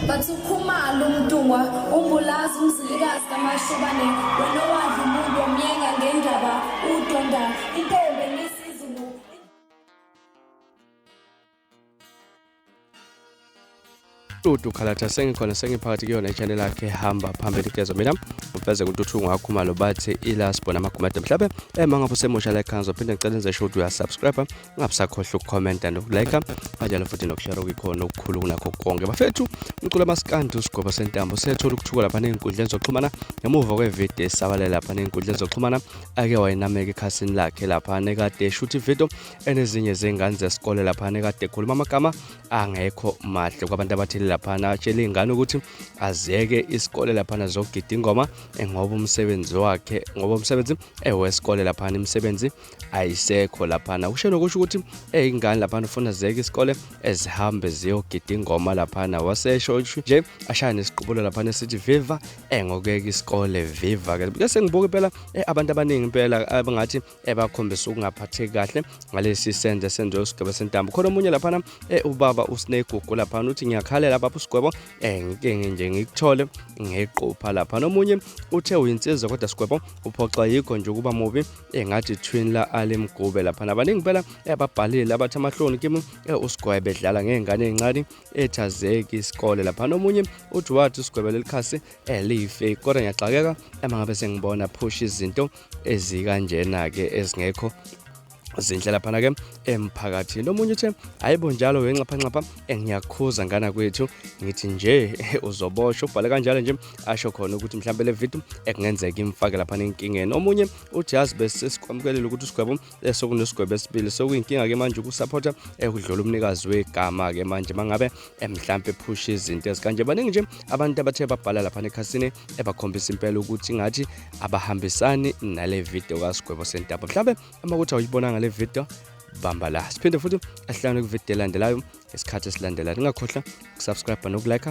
Bathi ukhumalo umntungwa umbulazi umzilikazi kamashobane wena owadla umuntu omyenga ngendaba udonda intombi ngesizulu Dudu Khalatha sengikhona sengiphakathi kuyona i-channel yakhe hamba phambili kulezo mina ufeze kuntuthu ngakho malo bathi ilasbo namagumede mhlabe ema ngabe usemusha like kanzo phinde ngicela enze show uya subscribe ungabusakhohlwa ukukhomenta nokulike kanjalo futhi nokushare okuyikhona okukhulu kunakho konke bafethu umculo amasikandi usigwebo sentambo sethola ukuthuka lapha ney'nkundleni zokuxhumana ngemuva kwevidiyo esabalele lapha ney'nkundleni zokuxhumana ake wayinameka ekhasini lakhe lapha nekade eshuthi ividiyo enezinye zengane zesikole lapha nekade ekhuluma amagama angekho mahle kwabantu abathile laphana atshele iy'ngane ukuthi aziyeke isikole laphana zokugida ingoma ngoba umsebenzi wakhe ngoba umsebenzi ewesikole laphana imisebenzi ayisekho laphana kusho nokusho ukuthi eyingane laphana ufuna zeke isikole ezihambe ziyogida ingoma laphana wasesho nje ashaya nesiqubulo laphana esithi viva engokeka isikole viva ke bese ngibuka impela eh, abantu abaningi impela abangathi ebakhombisa ukungaphatheki kahle ngalesi senze senze usigebe sentambo khona omunye laphana eh, ubaba usinegugu laphana uthi ngiyakhalela baba usigwebo eh, ngike nje ngikuthole ngequpha laphana omunye uthe uyinsizwa kodwa sigwebo uphoxa yikho nje ukuba mubi engathi eh, twin la Ali Mgube lapha nabaningi impela ababhalile labathi amahloni kimi eh, usigwaye bedlala ngey'ngane ey'ncane ethazeki isikole lapha nomunye uthi wathi usigwebe lelikhasi eh, life kodwa ngiyaxakeka ema ngabe sengibona phusha izinto ezikanjena-ke ezingekho zinhle laphana ke emphakathini omunye uthe hayibo njalo wenxaphanxapha engiyakhuza ngana kwethu ngithi nje uzoboshwa ubhale kanjalo nje asho khona ukuthi mhlawumbe le video ekungenzeka imfake lapha nenkingeni omunye uthi yazi besesikwamkelela ukuthi usigwebo sekunesigwebo esibili sekuyinkinga ke manje ukusupporta ekudlula umnikazi wegama ke manje mangabe mhlawumbe ephusha izinto ezikanje baningi nje abantu abathe babhala lapha nekhasini ebakhombisa impela ukuthi ngathi abahambisani nale video kasigwebo sentaba mhlawumbe uma kuthi awuyibonanga le video bamba la siphinde futhi ahlangane kwividiyo elandelayo ngesikhathi esilandelayo ningakhohlwa ukusubscribe nokulike